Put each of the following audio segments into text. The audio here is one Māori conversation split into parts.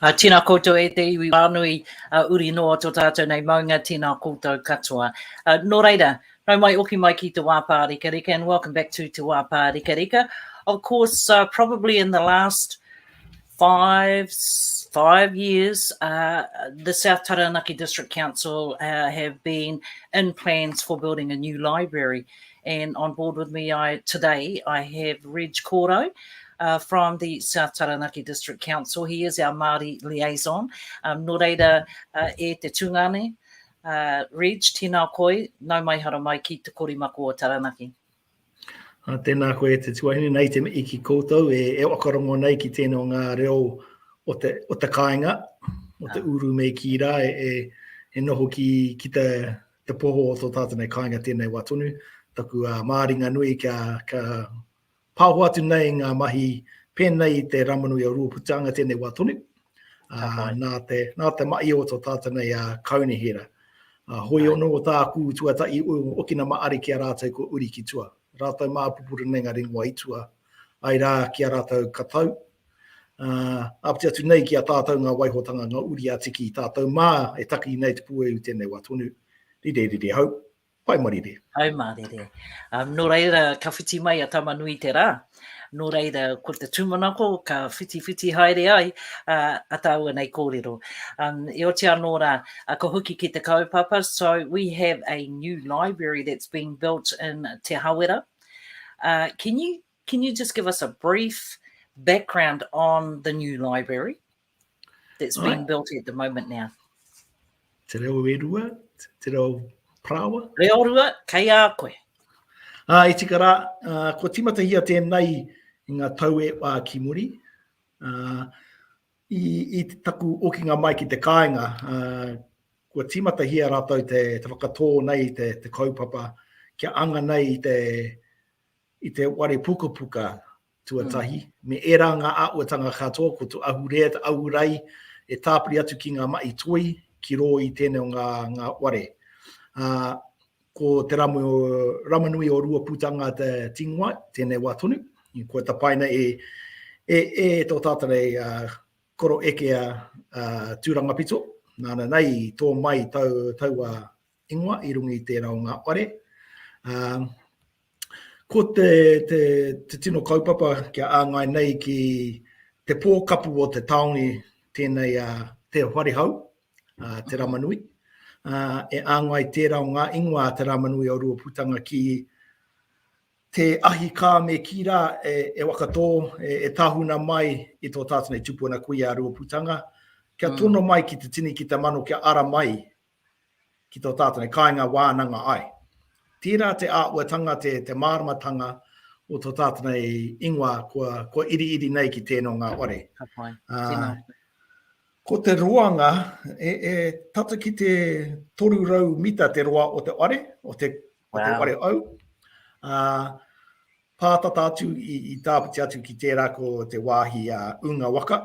Tēnā koutou e te iwi whānui, uri noa tō tātou nei maunga, tēnā koutou katoa. Nō reira, nau mai, oki mai ki Te Wā Pārekareka and welcome back to Te Wā Pārekareka. Of course, probably in the last five, five years, the South Taranaki District Council have been in plans for building a new library. Tēnā And on board with me today I have Reg Korou from the South Taranaki District Council, he is our Māori liaison. Um, nō reira e te tūnga nei, Uh, Reg, tēnā koe, nau mai hara mai ki te korimako o Taranaki. Uh, tēnā koe e te tuahine, nei te mei ki koutou, e, e wakarongo nei ki tēnā ngā reo o te, o te kāinga, o te ah. uru mei ki rā, e, e, e noho ki, ki te Te poho o tō tātou nei kāinga tēnei wā tonu, taku māringa nui kia pāho atu nei ngā mahi pēnei i te Rāmanu i Ōruaputaanga tēnei wā tonu, nā te mahi o tō tātou nei kaunihera. Hoi ono o tāku tuatahi o Okina Maari ki a rātou ko Uri ki Tua, rātou mā pupuru nei ngā ringa o Aitua, ai rā ki a rātou katau, Āpiti atu nei ki a tātou ngā waihotanga, ngā uri a Tiki i tātou mā e taki nei te puehu i tēnei wā tonu. Rire, rire hau. Pai marire. Pai marire. Nō reira, ka whiti mai a Tama Nui te rā. Nō reira, ko te tūmanako ka whitiwhiti haere ai a tāua nei kōrero. E oti anō rā, ka hoki ki te kaupapa, so we have a new library that's being built in Te Hawera. Can you Can you just give us a brief background on the new library that's being right. built at the moment now? Te reo e rua, te reo prawa. Reo rua, kei a koe. Uh, e tika rā, uh, ko timatahia tēnei i ngā tau e wā ki muri. Uh, i, i taku okinga mai ki te kāinga, uh, kua timatahia rātou te, te whakatō nei te, te kaupapa kia anga nei te, i te ware pukapuka tuatahi, me ērā ngā āhuatanga katoa ko te ahurea, te ahurai e tāpiri atu ki ngā mahi toi ki rō i tēnei o ngā ware. Ko te ramu o Ramanui o Ruapūtanga te tingoa tēnei wā tonu, kua tapaina e tō tātou nei koro ekea Tūrangapito, nāna nei i tō mai taua ingoa i runga i tērā o ngā whare. Ko te tino kaupapa kia āngai nei ki te pō kapu o te tāone tēnei a Te Wharehau, Te Ramanui. E āngai tērā o ngā ingoa a Te Ramanui o Ruaputanga ki te ahi kā me kī rā e wakatō, e tahuna mai i tō tātou nei tupuna kuia a Ruaputanga, kia tono mai ki te tini, ki te mano, kia ara mai ki tō tātou nei kāinga wānanga ai. Tērā te āhuatanga, te, te māramatanga o tō tātou nei ingoa kua, kua iriiri nei ki tēnō ngā ware. Ka pai, uh, tēnā. Ko te roanga, e, e tata ki te 300 mita te roa o te ware, o te, wow. o te ware au. Uh, pātata atu i, i tāpiti atu ki tērā ko te wāhi a uh, Unga Waka.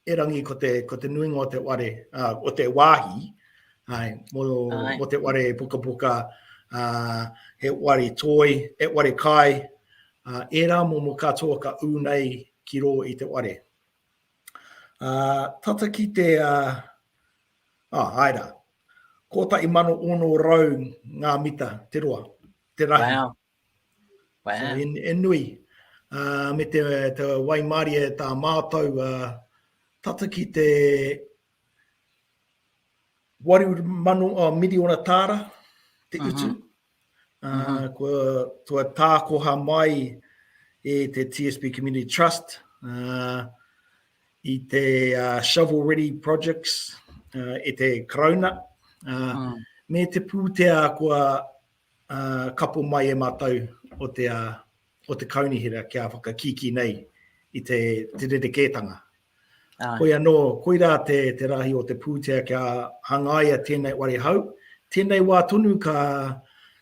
Erangi ko te, ko te nuinga o te ware, uh, o te wāhi, ai, mo, ai. mo te ware pukapuka, uh, he ware toi, he ware kai, uh, e rā mo mo katoa ka ū nei ki rō i te ware. Uh, tata ki te, uh, ah, ai rā, kōtai mano ono rau ngā mita, te roa, te rahi. Wow. Wow. So, in, in nui. Uh, me te, te waimārie tā mātou uh, tata ki te 800 oh, ah, miliona tāra te utu. Uh -huh. Uh, uh -huh. Kua, kua tākoha mai e te TSB Community Trust uh, i te uh, Shovel Ready Projects uh, e te Karauna. Uh, uh -huh. Me te pūtea kua kapo mai e mātou o te, o te Kaunihera kia whakakīkī nei i te rerekētanga. Hoi anō, koirā te, te rahi o te pūtea kia hangaia tēnei ware hau, tēnei wā tonu ka,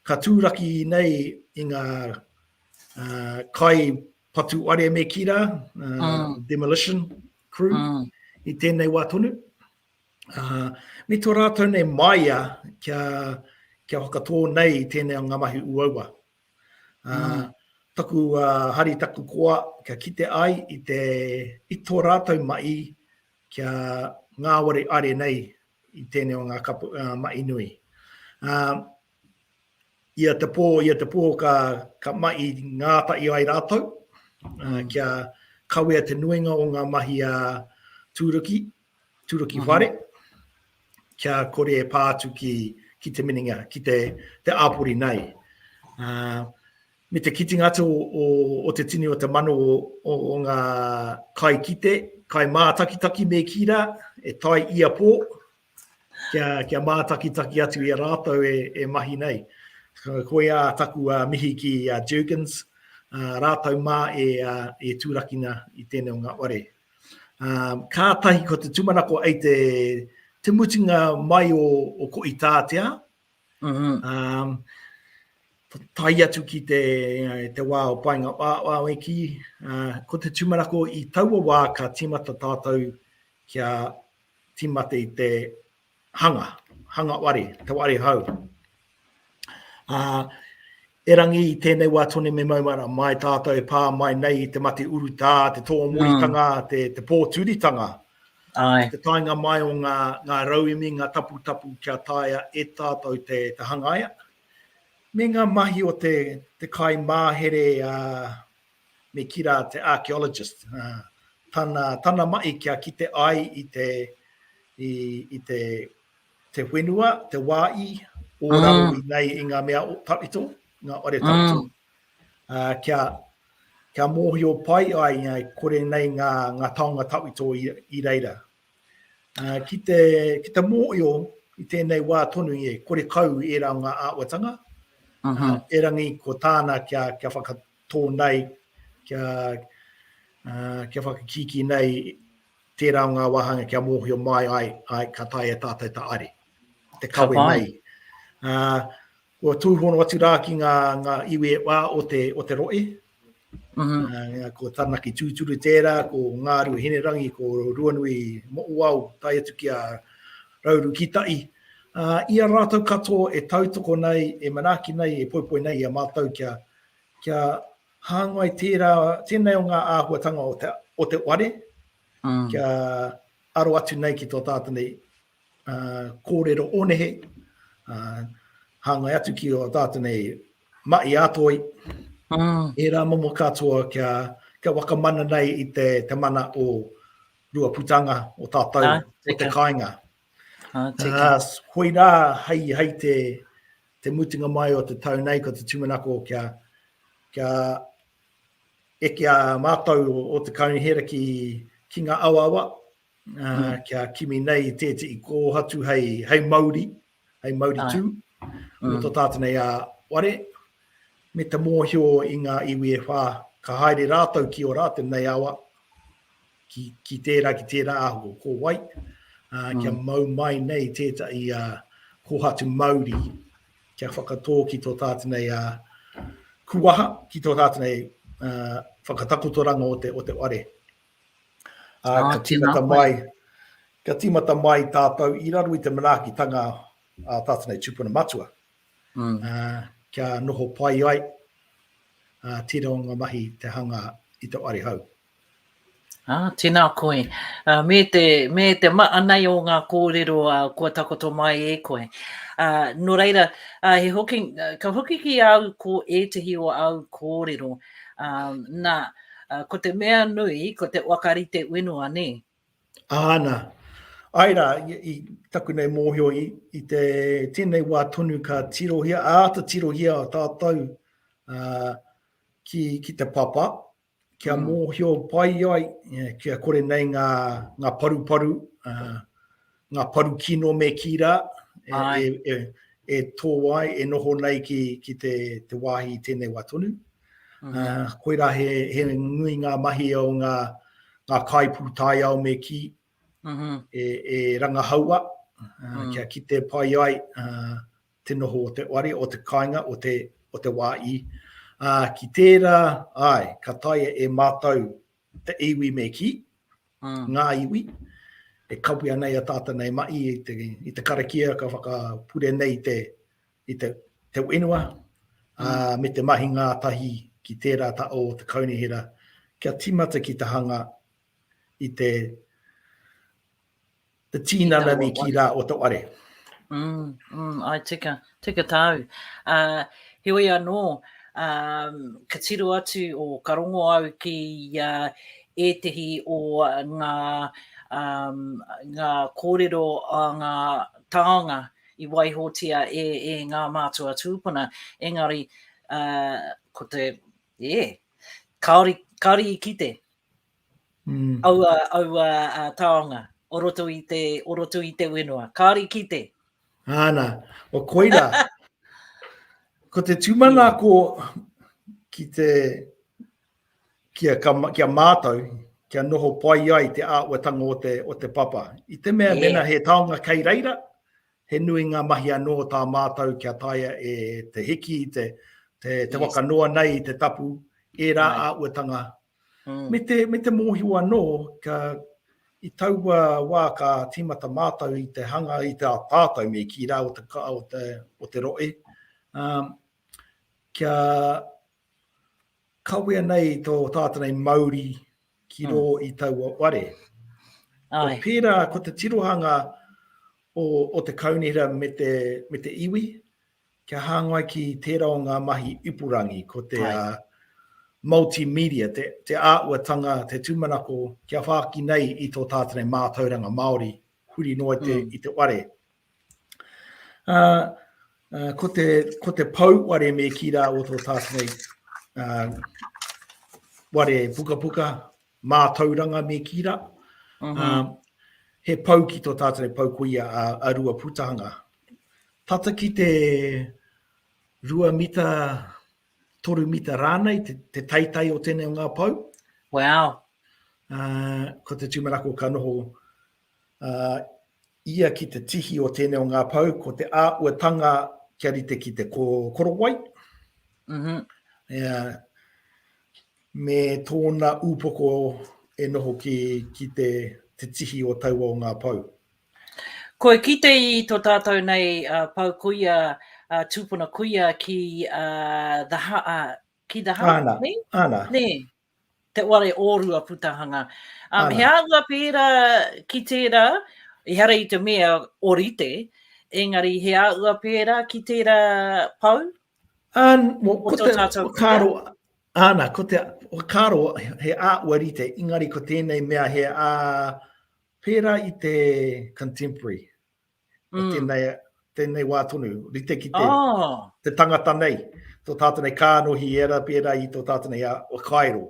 ka tūraki nei i ngā kai patu ware me kī rā, demolition crew, i tēnei wā tonu. ā, me tō rātou nei māia kia, kia whakatō nei i tēnei o ngā mahi uaua. Ā, mm. taku ā, hari taku koa kia kite ai i, te, i tō rātou mai kia ngāwari are nei i tēnei o ngā kapu, ā, mai nui. Ā, ia te pō, ia te pō ka, ka mai ngātai ai rātou, mm. ā, kia kawea te nuinga o ngā mahi a tūruki, Turuki whare, kia kore e pā atu ki, ki te minenga, ki te, te āpori nei. Uh, me te kitinga atu o, o, o te tini o te mano o, o, o ngā kai kite, kai mātakitaki me ki rā, e tai ia pō, kia, kia mātakitaki atu i a rātou e, e mahi nei. Koia taku uh, mihi ki uh, Jurgens, uh, rātou mā e, uh, e tūrakina i tēnei o ngā ware. Kātahi ko te tūmanako ai te mutunga mai o ko Itātea, tae atu ki te wā o paenga wāweki, ko te tūmanako i taua wā ka tīmata tātou kia tīmata i te hanga, hanga ware, te ware hau. Ā, erangi i tēnei wā tone me maumara, mai tātou pā mai nei i te mate urutā, te tōmoritanga, mm. te, te pōturitanga, Ai. te tainga mai o ngā, ngā rauemi, ngā taputapu kia taia e tātou te, te hangaia, me ngā mahi o te, te kai māhere a, me ki rā te archaeologist, tana, tana mahi kia kite ai i te, i, i te, te whenua, te wā i, o mm. raro i nei i ngā mea o tawhito, ngā ore tawhito. Mm. Uh, kia, kia mōhio pai ai ngai kore nei ngā, ngā taonga tawhito i, i reira. Uh, ki, te, ki te mōhio i tēnei wā tonu i e kore kau i e rā ngā āwatanga, uh -huh. uh, erangi ko tāna kia, kia whakatau tō nei kia, uh, kia whakakiki nei tērā o ngā wāhanga kia mōhio mai ai, ai ka tae e tātou ta are. Te kawe ka nei. Uh, kua tūhono atu rā ki ngā, ngā iwi e wā o te, o te roe. Mm -hmm. uh, ko Tanaki Tūturu tērā, ko Ngāru Hinerangi, ko Ruanui Moʻuau, tai atu ki a Rauru Kitai. Uh, ia rātou katoa e tautoko nei, e manaki nei, e poipoi nei i a mātou kia, kia hāngai tērā, tēnei o ngā āhuatanga o te, o te ware, mm. kia aro atu nei ki tō tātou nei uh, kōrero o nehe, uh, hāngai atu ki o tātou nei mai ātoi, mm. e rā momo katoa kia, kia wakamana nei i te, te mana o rua putanga, o tātou, ah, o te kāinga. Ā, tēnā. Ā, koirā, hei, hei te, te mutunga mai o te tau nei, ko te tūmanako kia, kia eke a mātou o, o te kaunihera ki, ki ngā awawa, ā, mm. kia kimi nei tētehi kōhatu hei, hei mauri, hei mauri tū, mm. o tō tātou nei a ware, me te mōhio i ngā iwi e whā, ka haere rātou ki o rā tēnei awa, ki, ki tērā, ki tērā ahu o ko wai, uh, mm. kia mau mai nei tētahi a uh, kohatu mauri, kia whakatō ki tō tātinei a uh, kuaha, ki tō tātinei uh, whakatakotoranga o te, o te ware. Uh, ah, ka tīmata mai, ka tīmata mai tātou i raro i te manaakitanga a tātinei tūpuna matua. Mm. Uh, kia noho pai ai uh, tira o ngā mahi te hanga i te ware hau. Ā, tēnā koe. Ā, me te, me te maha nei o ngā kōrero ā, kua takoto mai e koe. Ā, nō reira, ā, he hoki, ka hoki ki au ko ētehi o au kōrero, ā, nā, ā, ko te mea nui, ko te whakarite whenua, nē? Āna. Āe rā, i, i taku nei mōhio, i, i te tēnei wā tonu ka tirohia, āta tirohia tātou ā, ki, ki te papa, kia mōhio pai ai, kia kore nei ngā, ngā paruparu, uh, ngā paru kino me kī rā, e, e, e, e tō ai, e noho nei ki, ki te, te wāhi i tēnei wā tonu. Mm. Uh, koirā he, he nui ngā mahi o ngā, ngā kai pūtai ao me kī, mm -hmm. e, e rangahaua, uh, mm. kia kite pai ai, uh, te noho o te wari, o te kāinga, o te, o te wā i. Ā, ki tērā, āe, ka taea e mātou te iwi me kī, ngā iwi, e kawea nei a tātou nei mahi i te, i te karakia ka whakapure nei te, i te, te whenua, ā, me te mahi ngātahi ki tērā ta o te kaunihera, kia tīmata ki te hanga i te, Te tīnana me kī rā o tō are. Mm, mm, ai tika, tika tāu. Uh, heoi anō, um, ka tiro atu o ka rongo au ki uh, ētehi o ngā, um, ngā kōrero a ngā tāonga i waihotia e, e ngā mātua tūpuna. Engari, uh, ko te, yeah, kāori, kāori i kite, mm. aua, aua uh, taonga o roto i te, o roto i te whenua. Kāri ki te. Āna, o koira. ko te tūmana ko ki te kia, ka, kia mātou, kia noho pai ai te āuatanga o te, o te papa. I te mea, yeah. mena he taonga kei reira, he nui ngā mahi anō tā mātou kia taia e te hiki, te, te, te yes. wakanoa nei i te tapu, e rā right. āuatanga Me te, me te mōhio anō, ka, i taua wā ka tīmata mātou i te hanga, i te tātou me kī rā o te, o te, o te rohe, ā, kia kawea nei tō tātou nei mauri ki rō i taua ware. Ai. Ko pērā, ko te tirohanga o, o te kaunihera me te, me te iwi, Kia hāngai ki tērā o ngā mahi ipurangi, ko te multimedia, te āhuatanga, te tūmanako kia whāki nei i tō tātene mātauranga Māori huri noa i te ware. Ko te pou ware me kī rā o tō tātene ware pukapuka, Mātauranga me Kira. He pou ki tō tātou e pou koia a Ruaputahanga. Tata ki te rua mita, toru mita rānei te taitai o tēnei o ngā pou. Wow! Ko te tūmanako ka noho ia ki te tihi o tēnei o ngā pou, ko te āhuatanga kia rite ki te korowai, mm -hmm. ea, me tōna upoko e noho ki, ki te, te tihi o taua o ngā pou. Koe kite i to tātou nei uh, pau kuia, uh, tūpuna kuia ki uh, the, uh, ki the Ana, Ana. Nē, te ware ōrua putahanga. Um, he āhua pērā ki tērā, ehara i te mea o rite, engari he āhua pērā ki tērā pau? An, mo, ko te whakaaro, ana, ko te whakaaro he āhua rite, engari ko tēnei mea he ā pērā i te contemporary. mm. tēnei, tēnei wā tonu, rite ki te, oh. te tangata nei, tō tātou nei kānohi e ra, pērā i tō tātou nei a, a Kairo,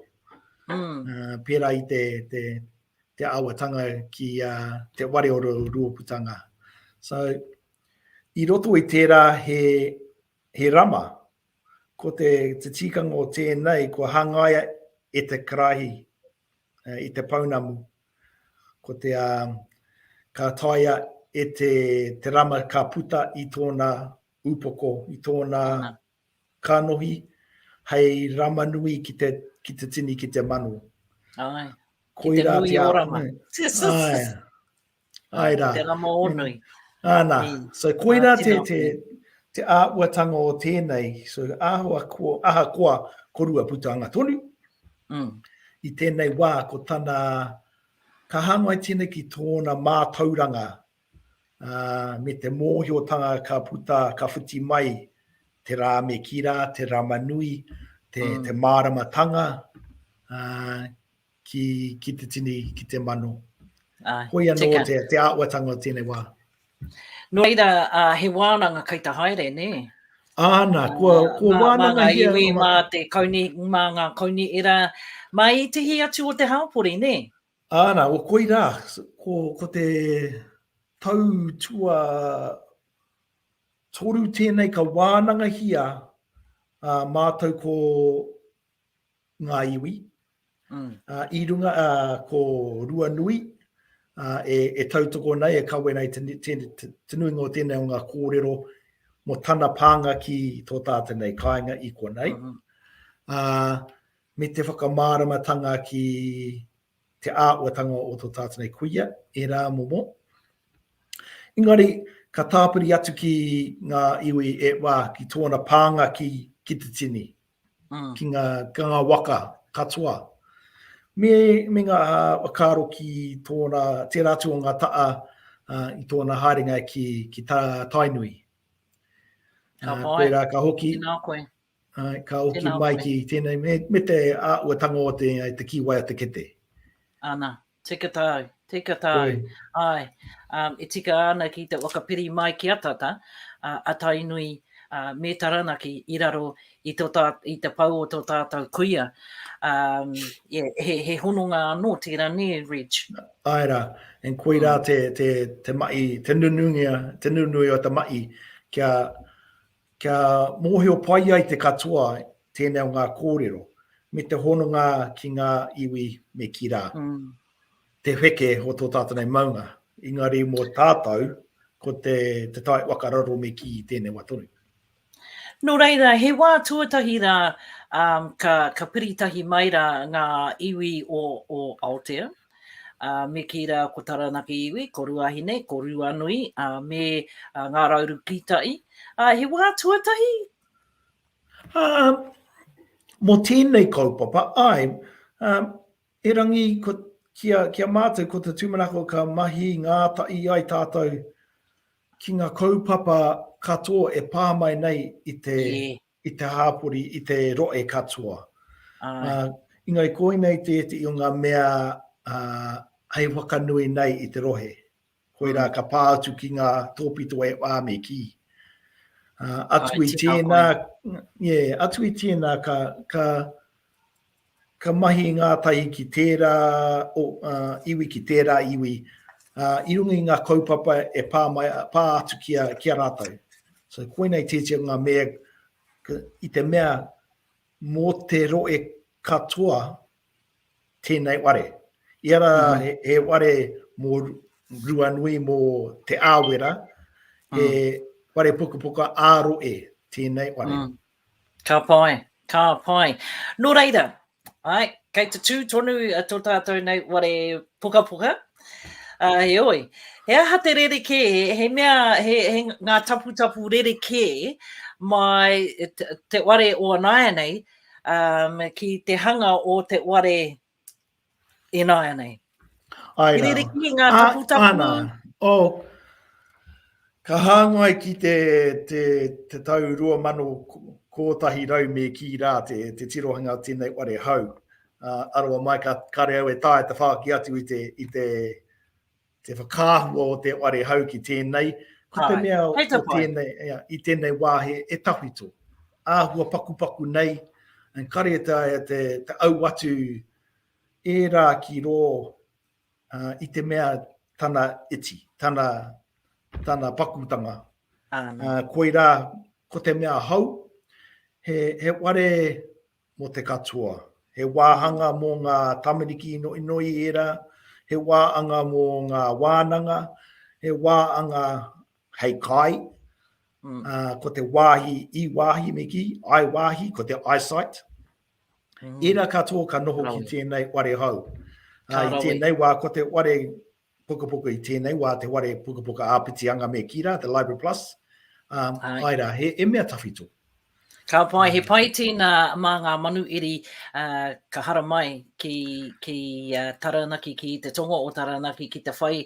mm. uh, pērā i te, te, te awatanga ki uh, te ware o ruoputanga. So, i roto i tērā he, he rama, ko te, te tīkanga o tēnei, ko hangaia e te karahi, uh, i te pounamu, Ko te ka taea e te rama ka puta i tōna upoko, i tōna kanohi hei rama nui ki te tini, ki te mano. Ai, ki te nui o rama. Ai, ai rā. Ki te rama o nui. Ana, so koirā te āhuatanga o tēnei, so ahakoa korua putanga tonu, I tēnei wā ko tana, ka hāngai tēnei ki tōna mātauranga me te mōhiotanga ka puta, ka whiti mai te rā me kī rā, te rama nui, te māramatanga ki te tini, ki te mano. Koia nō te āhuatanga o tēnei wā. No reira, a, he wānanga kei te haere, nē? Āna, kua, kua wānanga mā, mā ngā iwi, mā te kauni, mā ngā kauni era, mā ētehi atu o te hāpori, nē? Āna, o koirā, ko, ko te tau tua toru tēnei ka wānangahia a, mātou ko ngā iwi, ā, i runga, ā, ko Ruanui, ā, e, e tautoko nei, e kawe nei te, te, te, te nuinga o tēnei o ngā kōrero mō tana pānga ki tō tātou nei kāinga i konei. Mm -hmm. ā, me te whakamāramatanga ki te āhuatanga o tō tātou nei kuia, e rā momo. Engari, ka tāpiri atu ki ngā iwi e wā, ki tōna pānga ki, ki te tini. ki ngā waka katoa, me ngā whakaaro ki tōna, tērā atu o ngā taha i tōna haerenga ki tā Tainui. Ka pai, tēnā koe. Ka hoki mai ki tēnei, me te āhuatanga o te kīwai o te kete. Ana. Tika tāu, tika tāu. Oi. Ai, um, e tika ana ki te whakapiri mai ki a tata, uh, a Tainui uh, me Taranaki i raro i, to tā, i te pau o tō tātou kuia. Um, yeah, he, he hononga anō tērā nē, Reg? Ai rā, en kui rā mm. te, te, te mai, te nunungia, te nunui o te mai kia Kia mōhio pai ai te katoa tēnei o ngā kōrero, me te hononga ki ngā iwi me kī rā, te wheke o tō tātou nei maunga, engari mō tātou, ko te tae waka raro me kī i tēnei wā tonu. Nō reira, he wā tuatahi rā ka piri tahi mai rā ngā iwi o Aotea. ā, me kī rā, ko Taranaki iwi, ko Ruahine, ko Ruanui, ā, me Ngā Raurukītai, ā, he wā tuatahi? Ā, mō tēnei kaupapa, āe, ā, erangi ko, ki a, ki a mātou, ko te tūmanako ka mahi ngātahi ai tātou ki ngā kaupapa katoa e pā mai nei i te, i te hāpori, i te rohe katoa. Āe. Engari koinei tētehi o ngā mea hei whakanui nei i te rohe. Koirā ka pā atu ki ngā tōpito e whā me kī. Āe, tēnā koe. Āe, atu i tēnā, atu i tēnā ka, ka, Ka mahi ngātahi ki tērā iwi, ki tērā iwi, i runga i ngā kaupapa e pā mai, pā atu ki a, ki a rātou. So, koina i tētia ngā mea, i te mea, mō te roe katoa tēnei ware. I ara, he, he ware mō Ruanui, mō Te Āwera, he ware pukapuka ā-roe tēnei ware. Mm. Ka pai, ka pai. Nō reira, āe, kei te tū tonu tō tātou nei ware pukapuka, ā, heoi, he aha te rerekē, he mea, he, he ngā taputapu rerekē mai te, te ware o a nāianei um, ki te hanga o te ware Ināianei. Ai rā. Kerere ki ngā tapu tapu. Āna, o, ka hāngai ki te, te, te tau 2011 me kī rā te, te tirohanga o tēnei ware hau. Uh, aroa mai, ka, kare au e tae te whāki atu i te, i te, te whakaahua o te ware hau ki tēnei, ko te mea o tēnei, ea, i tēnei wā he e tawhito. Āhua pakupaku nei, en kare te, te, te au atu e rā ki rō uh, i te mea tana iti, tana, tana pakutanga. Uh, koirā, ko te mea hau, he, he ware Mō te katoa. He wāhanga mō ngā tamariki inoinoi ērā, he wāanga mō ngā wānanga, he wāanga hei kai, mm. uh, ko te wāhi i wāhi me ki, ai wāhi, ko te eyesight. Mm. Ērā katoa ka noho ki tēnei ware hau. Uh, I tēnei wā, ko te ware pukapuka i tēnei wā, te ware pukapuka āpiti anga me kī rā, te Library Plus, ā, āe rā, he, he mea tawhito. Ka pai, he pai tēnā mā ngā manuiri uh, ka haramai ki, ki uh, Taranaki, ki te tonga o Taranaki, ki te whai,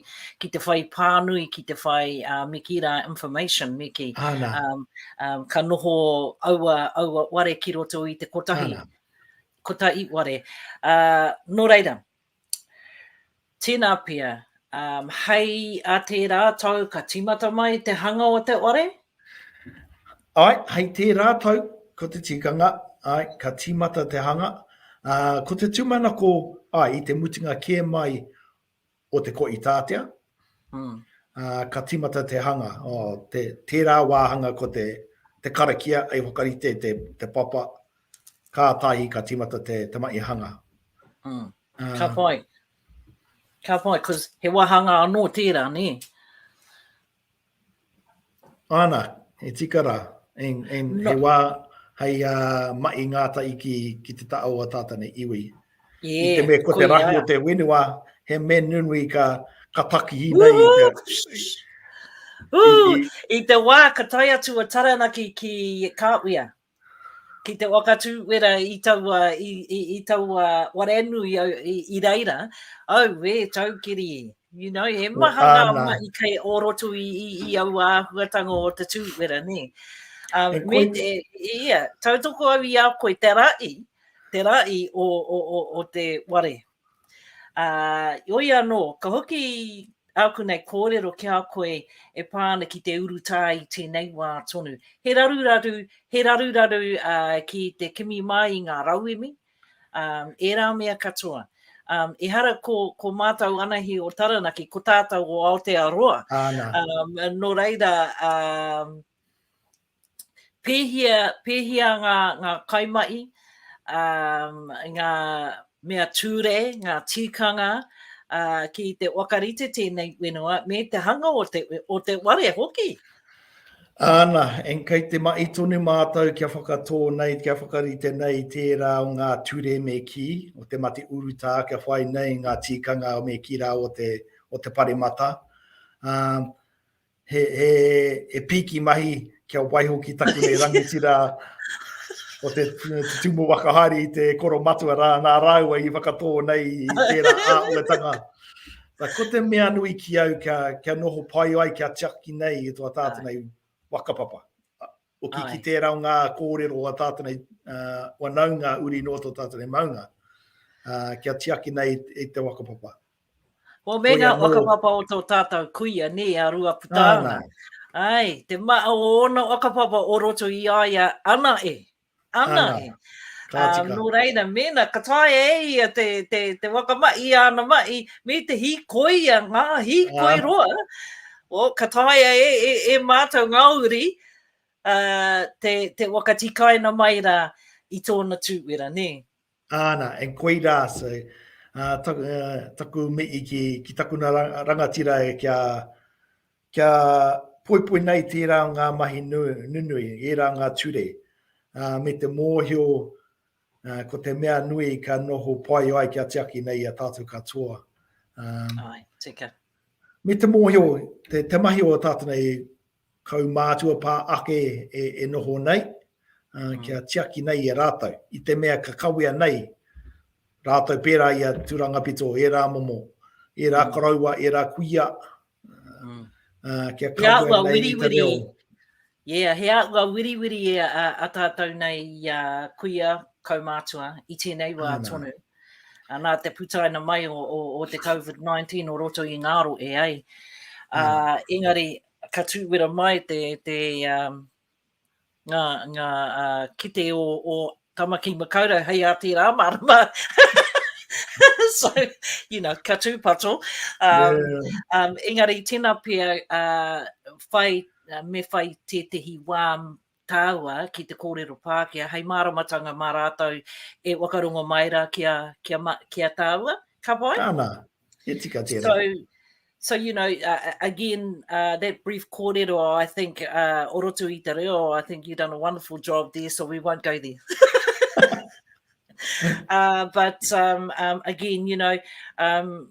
ki te whai pānui, ki te whai uh, mikira information, miki. Ana. Um, um, ka noho aua, aua ware ki roto i te kotahi, Ana. kotahi ware. Uh, nō reira, Tēnā pea, hei a tērā tau ka tīmata mai te hanga o te whare? Āe, hei tērā tau, ko te tikanga, āe, ka tīmata te hanga. Ko te tūmanako, āe, i te mutunga kē mai o te Koʻitātea, ka tīmata te hanga. Tērā wāhanga ko te karakia hei whakarite te papa, Kātahi ka tīmata te tamaihanga. Mm. Uh, ka pai. Ka pai, because he wahanga anō tērā, nē. Ana, he tika rā. En, en no. he wā hei uh, mai ngāta i ki, ki te tao a tāta nei iwi. Yeah, I te me ko te rahi o te whenua, he me nunui ka, ka taki i nei. Ooh, i, i, i, te wā ka tai atu a Taranaki ki Kāwia. ki te waka tūwera i taua, i, i, i taua warenui au, i, i reira, au e taukiri e. You know, he maha ngā Ana. mahi kei o roto i, i, i au āhuatanga o te tūwera, nē. Um, E me koe- te, ia, tautoko au i a koe te ra'i, te ra'i o, o, o, o te ware, Ā, heoi anō, ka hoki āku nei kōrero ki a koe e pā ana ki te urutā i tēnei wā tonu. He raruraru, he raruraru ki te kimi mai i ngā rauemi, ērā mea katoa. Ehara ko, ko mātou anahi o Taranaki, ko tātou o Aotearoa. Āna. Nō reira, pēhia, pēhia ngā, ngā kaimahi, um, ngā mea tūre, ngā tīkanga, uh, ki te wakarite tēnei whenua, me te hanga o te, o te ware hoki. Ana, en kei te mai tonu mātou kia whakatō nei, kia whakarite nei tērā o ngā ture me ki, o te mate urutā kia whai nei ngā tīkanga o me ki rā o te, o te paremata. Uh, He pīki mahi kia waiho ki taku nei rangitira o te tumu whakahaere i te koro matua rā, nā rāua i whakatō nei i tērā āhuatanga. Nā, ko te mea nui ki au kia, kia noho pai ai, kia tiaki nei e tō tātana i whakapapa. Hoki ki tērā o ngā kōrero o a tātou nei wanaunga uri noa tō tātou nei maunga, kia tiaki nei i te whakapapa. Ko me ngā whakapapa o tō tātou kuia, nē, a Ruaputa. Ai, te maa o ōna whakapapa o roto i a ia ana e. Ana, ana. Um, nō reira, mēna ka tae e ia te, te, te waka mai, i ana mai, me te hīkoia, ngā hīkoi uh. roa, o, ka tae e, e, e mātou ngā uri, uh, te, te waka tikaina mai rā i tōna tūwera, nē. Āna, and koirā, so, uh, taku, uh, taku mihi ki, ki takuna rangatira e kia, kia poipoi nei tērā o ngā mahi nunui, ērā ngā ture, uh, me te mōhio uh, ko te mea nui ka noho pai ai kia tiaki nei a tātou katoa. Um, Ai, tika. Me te mōhio, te, te mahi o tātou nei, Kaumātua pā ake e noho nei, kia tiaki nei e rātou, i te mea ka kawea nei rātou pērā i a Tūrangapito, ērā momo, ērā koroua, ērā kuia, kia kawea nei i te reo. Yeah, he aua wiriwiri a tātou nei i a kuia, kaumātua, i tēnei wā tonu. nā te putaina mai o, o, o te COVID-19 o roto i ngāro e ai. Mm. Uh, engari, ka tūwera mai te, te um, ngā, ngā uh, kite o, o Tamaki Makaurau, hei a tērā marama. so, you know, ka tūpato. Um, yeah. um, engari, tēnā pia, uh, whai, uh, me whai tētehi wā tāua ki te kōrero Pākehā hei māramatanga mā rātou e whakarongo mai rā ki a, ki a, ki a tāua, ka pai? Ana, e tika tērā. So, so you know, uh, again, uh, that brief kōrero, I think, uh, o roto i te reo, I think you've done a wonderful job there, so we won't go there. uh, but um, um, again, you know, um,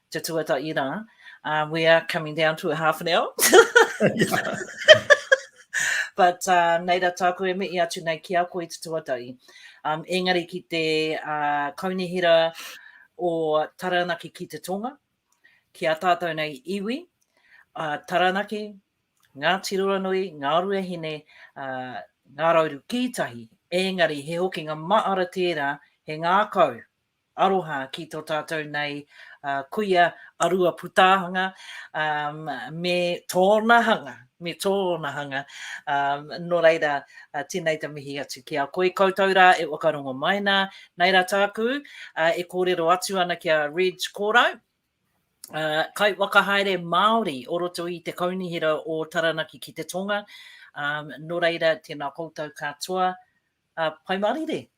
Te tuatahi rā, uh, we are coming down to a half an hour. But uh, nei rā tāku e mihi atu nei ki a koe te tuatahi. Um, engari ki te uh, kaunihera o Taranaki ki te Tonga, ki a tātou nei iwi, uh, Taranaki, ngā tiroranui, ngā ruahine, uh, ngā rauru kītahi, engari he hokinga maara tērā, he ngākau, Aroha ki tō tātou nei kuia a Ruaputaahanga me tōna hanga, me tōna hanga. Nō reira, tēnei te mihi atu ki a koe. Koutou rā e whakarongo mai nā. Nei rā tāku e kōrero atu ana ki a Reg Korau, kaiwhakahaere Māori o roto i te Kaunihera o Taranaki ki te Tonga. Nō reira, tēnā koutou katoa, Pai Mārire!